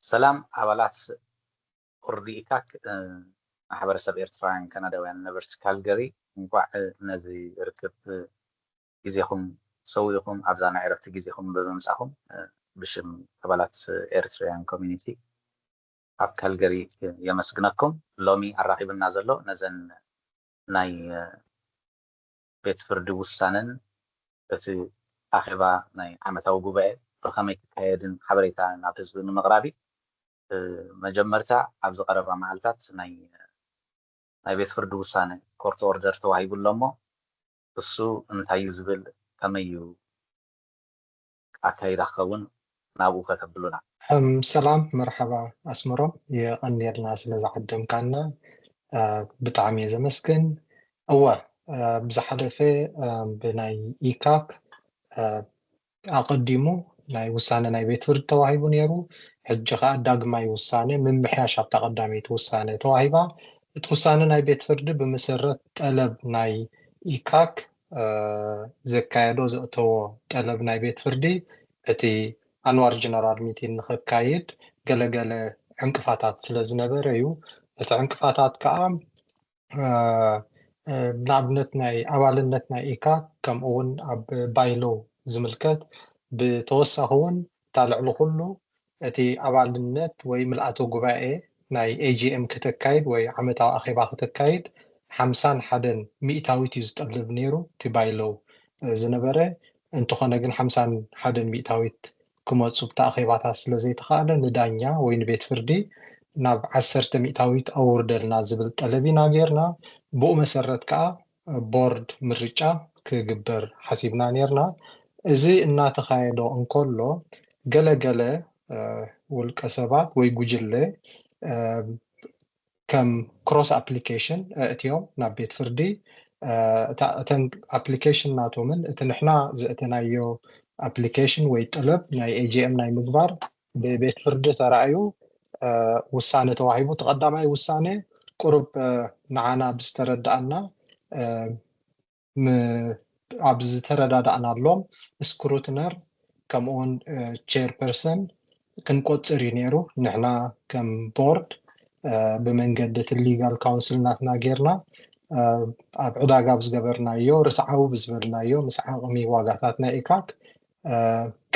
ሰላም ኣባላት ርዲኢካክ ማሕበረሰብ ኤርትራውያን ካናዳውያን ነበርቲ ካልገሪ እንኳዕ ነዚ ርክብ ግዜኹም ሰዊእኹም ኣብዛ ናይ ዕረፍቲ ግዜኹም ብምምፃኹም ብሽም ኣባላት ኤርትራውያን ኮሚኒቲ ኣብ ካልገሪ የመስግነኩም ሎሚ ኣራኺብና ዘሎ ነዘን ናይ ቤት ፍርዲ ውሳነን እቲ ኣኼባ ናይ ዓመታዊ ጉባኤ ብኸመይ ክካየድን ሓበሬታ ናብ ህዝቢ ንምቕራብ እዩ። መጀመርታ ኣብዚ ቀረባ መዓልታት ናይ ናይ ቤት ፍርዲ ውሳነ፣ Court Order፣ ተዋሂቡ ኣሎ እሞ እሱ እንታይ እዩ ዝብል ከመይ እዩ? ኣካይዳ ክከውን ናብኡ ከተብሉና። ሰላም መርሓባ ኣስመሮም የቐንየልና ስለ ዝዓደምካና ብጣዕሚ እየ ዘመስግን እወ ብዝሓለፈ ብናይ ኢካክ ኣቐዲሙ ናይ ውሳነ ናይ ቤት ፍርዲ ተዋሂቡ ኔሩ ሕጂ ከኣ ዳግማይ ውሳነ ምምሕያሽ ኣብታ ቀዳመይቲ ውሳነ ተዋሂባ እቲ ውሳነ ናይ ቤት ፍርዲ ብምሰረት ጠለብ ናይ ኢካክ ዘካየዶ ዘእተዎ ጠለብ ናይ ቤት ፍርዲ እቲ ኣንዋር ጀነራል ሚቲን ንኸካይድ ገለ ገለ ዕንቅፋታት ስለ ዝነበረ እዩ። እቲ ዕንቅፋታት ከኣ ንኣብነት ናይ ኣባልነት ናይ ኢካ ከምኡ ውን ኣብ ባይሎ ዝምልከት ብተወሳኺ ውን እታ ልዕሊ ኩሉ እቲ ኣባልነት ወይ ምልኣተ ጉባኤ ናይ AGM ከተካይድ ወይ ዓመታዊ ኣኼባ ከተካይድ ሓምሳን ሓደን ሚእታዊት እዩ ዝጠልብ ነይሩ እቲ ባይሎው ዝነበረ እንተኾነ ግን ሓምሳን ሓደን ሚእታዊት ክመጹ ብቲ ኣኼባታት ስለ ዘይተኻእለ ንዳኛ ወይ ንቤት ፍርዲ ናብ ዓሰርተ ሚእታዊት ኣውርደልና ዝብል ጠለብ ኢና ገይርና ብኡ መሰረት ከኣ ቦርድ ምርጫ ክግበር ሓሲብና ኔርና። እዚ እናተኻየዶ እንከሎ ገለ ገለ ውልቀ ሰባት ወይ ጉጅለ ከም ክሮስ ኣፕሊኬሽን ኣእትዮም ናብ ቤት ፍርዲ እተን ኣፕሊኬሽን ናቶምን እቲ ንሕና ዘእተናዮ ኣፕሊኬሽን ወይ ጠለብ ናይ AGM ናይ ምግባር ብቤት ፍርዲ ተራእዩ ውሳነ ተዋሂቡ። እቲ ቀዳማይ ውሳነ ቁሩብ ንዓና ብዝተረድኣና ኣብ ዝተረዳዳእናሎም ስክሩትነር ከምኡውን ቼር ፐርሰን ክንቆጽር እዩ ነይሩ። ንሕና ከም ቦርድ ብመንገዲ እቲ ሊጋል ካውንስል ናትና ጌርና ኣብ ዕዳጋ ብዝገበርናዮ ርትዓዊ ብዝበልናዮ ምስ ዓቕሚ ዋጋታት ናይ ኢካክ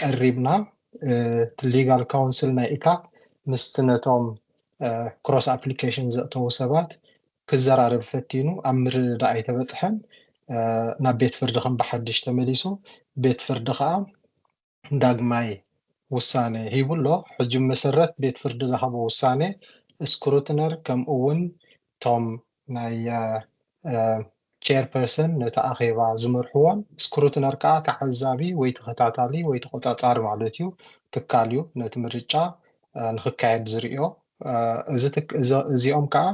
ቀሪብና እቲ ሊጋል ካውንስል ናይ ኢታክ ምስቲ ነቶም ክሮስ ኣፕሊኬሽን ዘእተዉ ሰባት ክዘራረብ ፈቲኑ ኣብ ምርድዳእ ኣይተበጽሐን። ናብ ቤት ፍርዲ ከም ብሓድሽ ተመሊሱ ቤት ፍርዲ ከኣ ዳግማይ ውሳነ ሂቡ ኣሎ። ሕጂ ብመሰረት ቤት ፍርዲ ዝሃቦ ውሳነ ስክሩትነር ከምኡ'ውን እቶም ናይ ቼር ፐርሰን ነቲ ኣኼባ ዝመርሕዎን ስክሩትነር ከኣ ተዓዛቢ ወይ ተኸታታሊ ወይ ተቖጻጻሪ ማለት እዩ ትካል እዩ ነቲ ምርጫ ንክካየድ ዝርእዮ እዚኦም ከኣ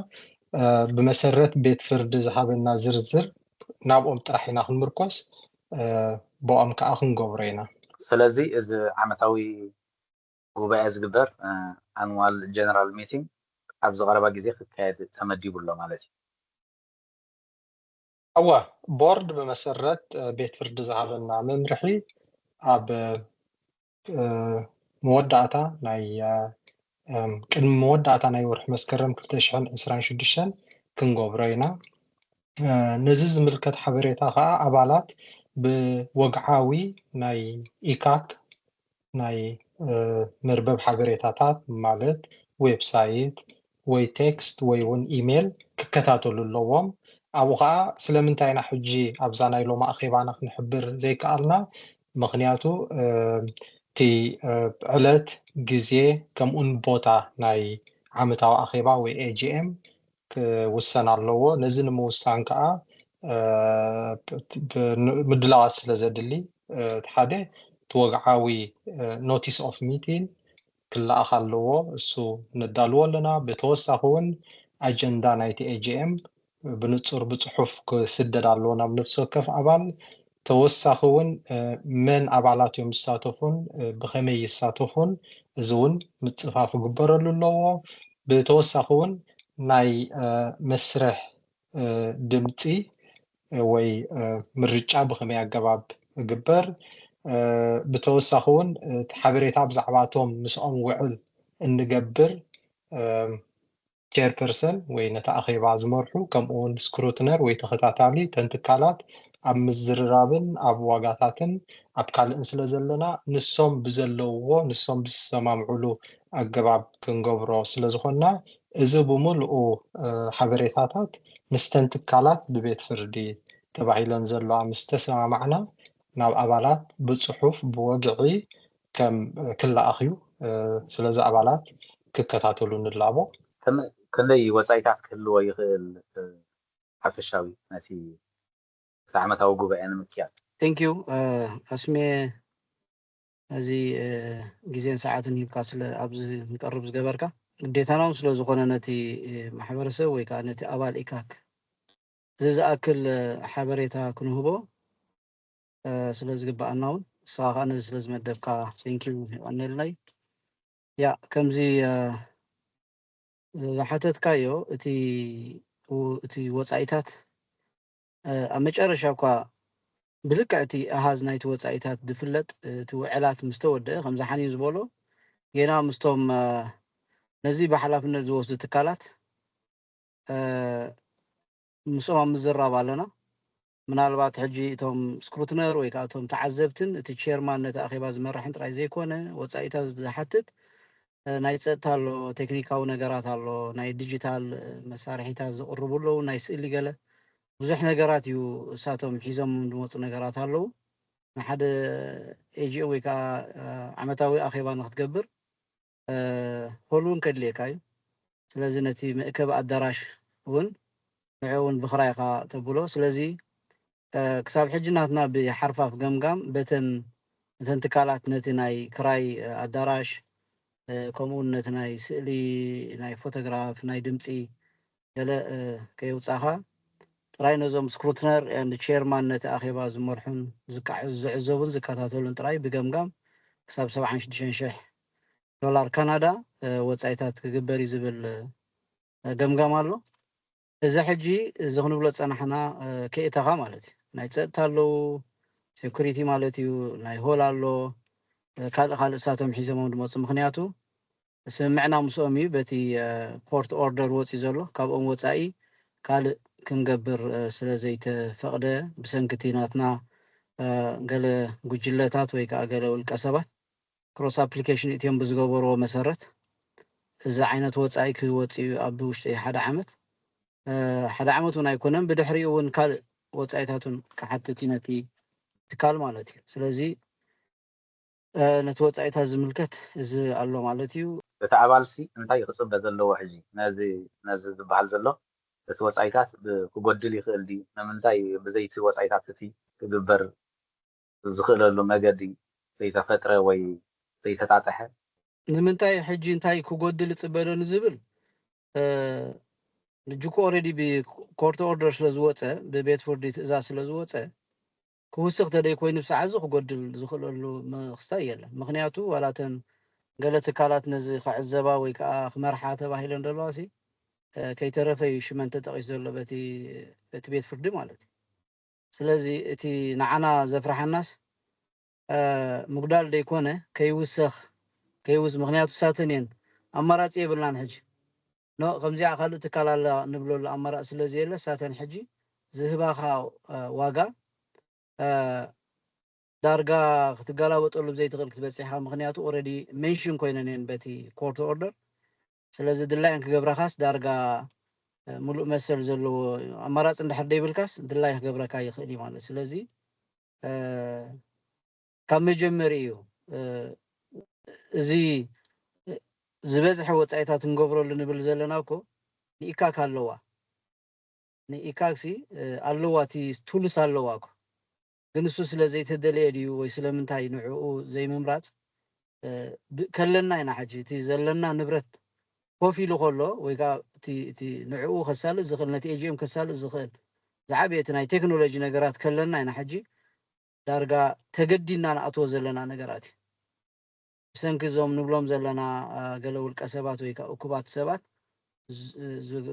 ብመሰረት ቤት ፍርዲ ዝሃበና ዝርዝር ናብኦም ጥራሕ ኢና ክንምርኮስ ብኦም ከኣ ክንገብሮ ኢና። ሰለዚ እዚ ዓመታዊ ጉባኤ ዝግበር ኣንዋል ጀነራል ሚቲንግ ኣብዚ ቀረባ ግዜ ክካየድ ተመዲቡ ኣሎ ማለት እዩ። እወ፣ ቦርድ ብመሰረት ቤት ፍርዲ ዝሃበና መምርሒ ኣብ መወዳእታ ናይ ቅድሚ መወዳእታ ናይ ወርሒ መስከረም ክልተ ሽሕን ዕስራን ሽዱሽተን ክንገብሮ ኢና። ነዚ ዝምልከት ሓበሬታ ከኣ ኣባላት ብወግዓዊ ናይ ኢካክ ናይ መርበብ ሓበሬታታት ማለት ዌብ ሳይት ወይ ቴክስት ወይ ውን ኢሜል ክከታተሉ ኣለዎም። ኣብኡ ከኣ ስለምንታይ ኢና ሕጂ ኣብዛ ናይ ሎሚ ኣኼባና ክንሕብር ዘይከኣልና ምኽንያቱ እቲ ዕለት፣ ግዜ ከምኡን ቦታ ናይ ዓመታዊ ኣኼባ ወይ AGM ክውሰን ኣለዎ። ነዚ ንምውሳን ከኣ ምድላዋት ስለዘድሊ እቲ ሓደ እቲ ወግዓዊ ኖቲስ ኦፍ ሚቲን ክለኣኽ ኣለዎ። እሱ ነዳልዎ ኣለና። ብተወሳኺ እውን ኣጀንዳ ናይቲ ኤጂኤም ብንጹር ብጽሑፍ ክስደድ ኣለዎ ናብ ነፍሲ ወከፍ ኣባል። ተወሳኺ ውን መን ኣባላት እዮም ዝሳተፉን ብኸመይ ይሳተፉን እዚ ውን ምጽፋፍ ክግበረሉ ኣለዎ። ብተወሳኺ ውን ናይ መስርሕ ድምጺ ወይ ምርጫ ብኸመይ ኣገባብ እግበር ብተወሳኺ ውን ሓበሬታ ብዛዕባ እቶም ምስኦም ውዕል እንገብር ቸርፐርሰን ወይ ነቲ ኣኼባ ዝመርሑ ከምኡውን ስክሩትነር ወይ ተኸታታሊ እተን ትካላት ኣብ ምዝርራብን ኣብ ዋጋታትን ኣብ ካልእን ስለ ዘለና ንሶም ብዘለውዎ ንሶም ብዝሰማምዑሉ ኣገባብ ክንገብሮ ስለ ዝኾንና እዚ ብምሉኡ ሓበሬታታት ምስተን ትካላት ብቤት ፍርዲ ተባሂለን ዘለዋ ምስ ተሰማማዕና ናብ ኣባላት ብጽሑፍ ብወግዒ ከም ክለኣኽዩ ስለዚ ኣባላት ክከታተሉ ንላቦ። ከመይ ወጻኢታት ክህልዎ ይኽእል ሓፈሻዊ ነቲ ዓመታዊ ጉባኤ ንምክያድ? Thank you ኣስምየ ነዚ ግዜን ሰዓትን ሂብካ ስለ ኣብዚ ክንቀርብ ዝገበርካ። ግዴታና ውን ስለ ዝኾነ ነቲ ማሕበረሰብ ወይ ከኣ ነቲ ኣባል ኢካክ እዚ ዝኣክል ሓበሬታ ክንህቦ ስለ ዝግብኣና እውን ንስኻ ከዓ ነዚ ስለ ዝመደብካ ቴንኪው የቐኔልና እዩ ያ ከምዚ ዝሓተትካዮ እቲ እቲ ወፃኢታት ኣብ መጨረሻ እኳ ብልክዕ እቲ ኣሃዝ ናይቲ ወፃኢታት ዝፍለጥ እቲ ውዕላት ምስ ተወደአ ከምዚ ሓኒን ዝበሎ ጌና ምስቶም ነዚ ብሓላፍነት ዝወስዱ ትካላት ምስኦም ኣብ ምዝራብ ኣለና ምናልባት ሕጂ እቶም ስክሩትነር ወይ ከኣ እቶም ተዓዘብትን እቲ ቼርማን ነቲ ኣኼባ ዝመርሕን ጥራይ ዘይኮነ ወጻኢታት ዝሓትት ናይ ጸጥታ ኣሎ፣ ቴክኒካዊ ነገራት ኣሎ፣ ናይ ዲጂታል መሳርሒታት ዝቕርቡ ኣለዉ፣ ናይ ስእሊ ገለ ብዙሕ ነገራት እዩ እሳቶም ሒዞምም ዝመጹ ነገራት ኣለዉ። ንሓደ AGM ወይ ከኣ ዓመታዊ ኣኼባ ንክትገብር ሆል ውን ከድልየካ እዩ ስለዚ ነቲ መእከቢ ኣዳራሽ ውን ንዕኡ ውን ብክራይ ኢካ ተብሎ ስለዚ ክሳብ ሕጂ ናትና ብሓርፋፍ ገምጋም በተን እተን ትካላት ነቲ ናይ ክራይ ኣዳራሽ ከምኡ ውን ነቲ ናይ ስእሊ ናይ ፎቶግራፍ ናይ ድምጺ ገለ ከየውጻኻ ጥራይ ነዞም ስክሩትነር ኤንድ ቼርማን ነቲ ኣኼባ ዝመርሑን ዝዕዘቡን ዝከታተሉን ጥራይ ብገምጋም ክሳብ ሰብዓን ሽዱሽተን ሽሕ ዶላር ካናዳ ወጻኢታት ክግበር እዩ ዝብል ገምጋም ኣሎ። እዚ ሕጂ እዚ ክንብሎ ዝጸናሕና ከየእተኻ ማለት እዩ። ናይ ጸጥታ ኣለዉ፣ ሴኩሪቲ ማለት እዩ፣ ናይ ሆል ኣሎ፣ ካልእ ካልእ እሳቶም ሒዘሞም ዝመጹ ምኽንያቱ ስምምዕና ምስኦም እዩ በቲ ኮርት ኦርደር ወፅዩ ዘሎ ካብኦም ወፃኢ ካልእ ክንገብር ስለዘይተፈቕደ ብሰንኪ እቲ ናትና ገለ ጉጅለታት ወይ ከዓ ገለ ውልቀ ሰባት ክሮስ ኣፕሊኬሽን እትዮም ብዝገበርዎ መሰረት እዚ ዓይነት ወፃኢ ክወፅ እዩ ኣብ ውሽጢ ሓደ ዓመት ሓደ ዓመት እውን ኣይኮነን ብድሕሪኡ እውን ካልእ ወፃኢታት እውን ክሓትት እዩ ነቲ ትካል ማለት እዩ ስለዚ ነቲ ወጻኢታት ዝምልከት እዚ ኣሎ ማለት እዩ። እቲ ኣባልሲ እንታይ ክጽበ ዘለዎ ሕጂ ነዚ ነዚ ዝበሃል ዘሎ እቲ ወጻኢታት ብ ክጎድል ይኽእል ድዩ ንምንታይ ብዘይቲ ወጻኢታት እቲ ክግበር ዝኽእለሉ መገዲ ዘይተፈጥረ ወይ ዘይተጣጠሐ? ንምንታይ ሕጂ እንታይ ክጎድል እጽበ ዶ ንዝብል ሕጂ እኮ ኦረዲ ብ ኮርት ኦርደር ስለ ዝወጸ ብቤት ፍርዲ ትእዛዝ ስለ ዝወጸ ክውስኽ ተደይኮይኑ ብሰዓት እዚ ክጎድል ዝኽእለሉ ምኽስታይ የለን። ምኽንያቱ ዋላ እተን ገለ ትካላት ነዚ ክዕዘባ ወይ ከኣ ክመርሓ ተባሂለን ዘለዋሲ ከይተረፈ እዩ ሽመን ተጠቒሱ ዘሎ በቲ በቲ ቤት ፍርዲ ማለት እዩ። ስለዚ እቲ ንዓና ዘፍርሓናስ ምጉዳል ደይኮነ ከይውሰኽ ከይውስ ምኽንያቱ እሳተን እየን ኣማራጺ የብልናን ሕጂ ን ከምዚኣ ካልእ ትካል ኣላ ንብለሉ ኣማራጺ ስለ ዘየለ ሳተን ሕጂ ዝህባኻ ዋጋ ዳርጋ ክትገላበጠሉ ብዘይትኽእል ክትበጽሕ ኢኻ ምኽንያቱ ኦረዲ ሜንሽን ኮይነን እየን በቲ ኮርት ኦርደር ስለዚ ድላየን ክገብራኻስ ዳርጋ ምሉእ መሰል ዘለዎ ኣማራጺ እንድሕር ደይብልካስ ድላይ ክገብረካ ይኽእል እዩ ማለት ስለዚ ካብ መጀመሪኡ እዚ ዝበዝሐ ወጻኢታት እንገብረሉ ንብል ዘለና እኮ ንኢካክ ኣለዋ ንኢካክሲ ኣለዋ እቲ ቱልስ ኣለዋ እኮ ግን እሱ ስለ ዘይተደልየ ድዩ ወይ ስለምንታይ ንዕኡ ዘይምምራጽ ከለና ኢና ሕጂ እቲ ዘለና ንብረት ኮፍ ኢሉ ከሎ ወይ ከዓ እቲ ንዕኡ ከሳልጥ ዝኽእል ነቲ ኤጂኤም ከሳልጥ ዝኽእል ዝዓበየ እቲ ናይ ቴክኖሎጂ ነገራት ከለና ኢና ሕጂ ዳርጋ ተገዲድና ንኣትዎ ዘለና ነገራት እዩ። ብሰንኪ እዞም ንብሎም ዘለና ገለ ውልቀ ሰባት ወይ ከኣ እኩባት ሰባት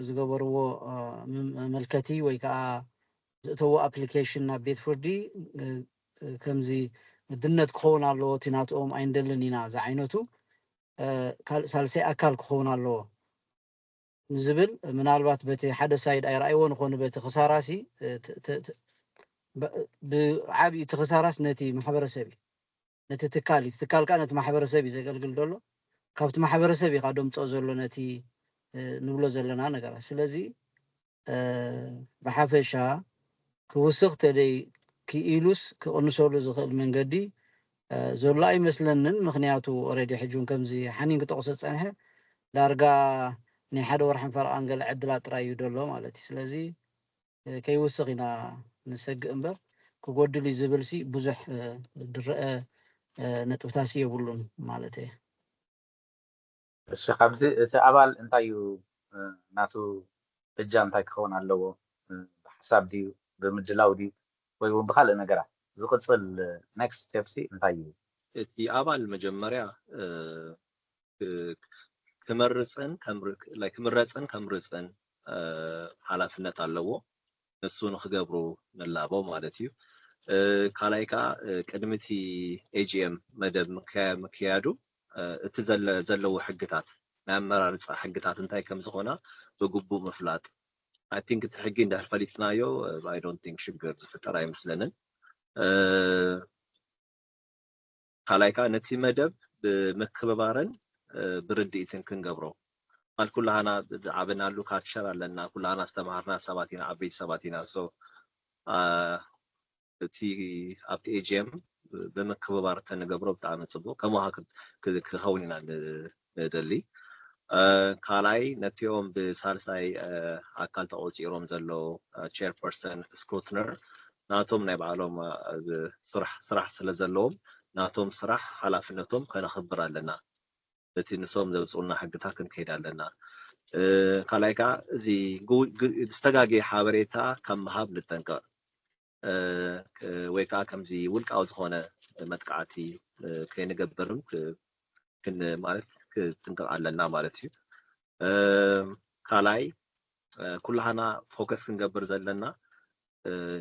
ዝገበርዎ መመልከቲ ወይ ከኣ ዘእተዎ ኣፕሊኬሽን ናብ ቤት ፍርዲ ከምዚ ግድነት ክኸውን ኣለዎ እቲ ናትኦም ኣይንደልን ኢና ዝዓይነቱ ካልእ ሳልሳይ ኣካል ክኸውን ኣለዎ። ንዝብል ምናልባት በቲ ሓደ ሳይድ ኣይረኣይዎን ኾኑ በቲ ክሳራ ሲ ብዓብዩ እቲ ክሳራስ ነቲ ማሕበረሰብ እዩ ነቲ ትካል እዩ ትካል ከዓ ነቲ ማሕበረሰብ እዩ ዘገልግል ዘሎ ካብቲ ማሕበረሰብ እዩ ደምፅኦ ዘሎ ነቲ ንብሎ ዘለና ነገራት ስለዚ ብሓፈሻ ክውስኽ ተደይ ክኢሉስ ክቕንሰሉ ዝኽእል መንገዲ ዘሎ ኣይመስለንን ምኽንያቱ ኦረዲ ሕጂ ውን ከምዚ ሓኒን ክጠቕሶ ዝጸንሐ ዳርጋ ናይ ሓደ ወርሕን ፈረቓን ገለ ዕድላት ጥራይ እዩ ደሎ ማለት እዩ ስለዚ ከይውስኽ ኢና ንሰግእ እምበር ክጎድል እዩ ዝብል ሲ ብዙሕ ድረአ ነጥብታሲ የብሉን ማለተይ እሺ ካብዚ እቲ ኣባል እንታይ እዩ ናቱ እጃም እንታይ ክኸውን ኣለዎ ብሓሳብ ድዩ ብምድላው ድዩ ወይ እውን ብካልእ ነገራት ዝቅፅል next step ሲ እንታይ እዩ? እቲ ኣባል መጀመርያ ክመርፅን like ክምረፅን ከምርፅን ሓላፍነት ኣለዎ ንሱ ንክገብሩ ንላቦ ማለት እዩ። ካልኣይ ከኣ ቅድሚ እቲ AGM መደብ ምክያዱ እቲ ዘለዎ ሕግታት ናይ ኣመራርጻ ሕግታት እንታይ ከም ዝኾና ብግቡእ ምፍላጥ I think እቲ ሕጊ እንድሕር ፈሊጥናዮ I don't think ሽግር ዝፍጠር ኣይመስለንን። ካልኣይ ከኣ ነቲ መደብ ብምክብባርን ብርድኢትን ክንገብሮ ቃል ኩላሃና ዝዓበናሉ ካልቸር ኣለና ኩላሃና ዝተማሃርና ሰባት ኢና ዓበይቲ ሰባት ኢና so እቲ ኣብቲ ኤጂኤም ብምክብባር ተንገብሮ ብጣዕሚ ጽቡቅ ከማካ ክከውን ኢና ንደሊ። ካልኣይ ነቲኦም ብሳልሳይ ኣካል ተቖጺሮም ዘለዉ ቸርፐርሰን ስክሩትነር ናቶም ናይ ባዕሎም ስራሕ ስለዘለዎም ናቶም ስራሕ ሓላፍነቶም ከነኽብር ኣለና በቲ ንሶም ዘውጽኡልና ሕግታት ክንከይድ ኣለና ካልኣይ ከኣ እዚ ዝተጋገየ ሓበሬታ ካብ ምሃብ ንጠንቀቕ ወይ ከኣ ከምዚ ውልቃዊ ዝኾነ መጥቃዕቲ ከይንገብር ማለት ክንጥንቀቕ ኣለና ማለት እዩ። ካልኣይ ኩላህና ፎከስ ክንገብር ዘለና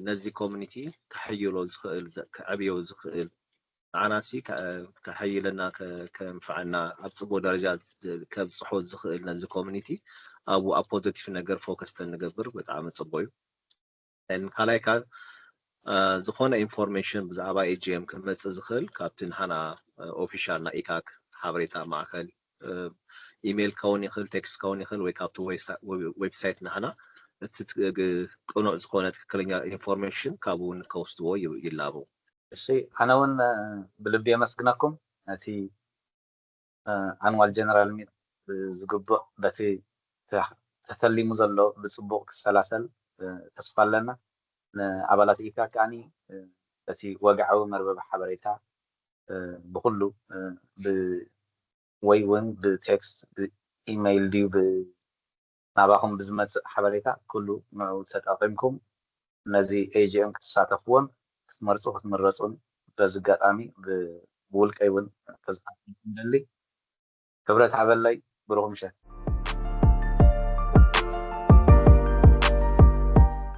ነዚ ኮሚኒቲ ከሕይሎ ዝኽእል ከዕብዮ ዝኽእል ንዓናሲ ከሐይለና ከንፈዐና ኣብ ጽቡቕ ደረጃ ከብጽሖ ዝኽእል ነዚ ኮሚኒቲ ኣብኡ ኣብ ፖዘቲቭ ነገር ፎከስ ተንገብር ብጣዕሚ ጽቡቕ እዩ። And ካልኣይ ከኣ ዝኾነ ኢንፎርሜሽን ብዛዕባ AGM ክመጽእ ዝኽእል ካብቲ ንሓና ኦፊሻል ናይ ኢካክ ሓበሬታ ማእከል ኢሜል ክኸውን ይኽእል ቴክስት ክኸውን ይኽእል ወይ ካብቲ ዌብሳይት ናህና እቲ ቅኑዕ ዝኾነ ትክክለኛ ኢንፎርሜሽን ካብኡ እውን ከውስድዎ ይላበው። እሺ ኣነ ውን ብልቢ የመስግነኩም ነቲ ኣንዋል ጀነራል ሚት ብዝግቡእ በቲ ተተሊሙ ዘሎ ብጽቡቕ ክሰላሰል ተስፋ ኣለና። ንኣባላት ኢፓክ ከኣ በቲ ወግዓዊ መርበብ ሓበሬታ ብኹሉ ብ ወይ ውን ብቴክስት፣ ብኢመይል ድዩ ብ ናባኹም ብዝመጽእ ሓበሬታ ኩሉ ንዑ ተጠቒምኩም ነዚ AGM ክትሳተፍዎን ክትመርጹ ክትምረጹን በዚ ኣጋጣሚ ብውልቀይ ውን ከዘኻኽረኩም እደሊ። ክብረት ሃበለይ ብሩኽ ምሸት።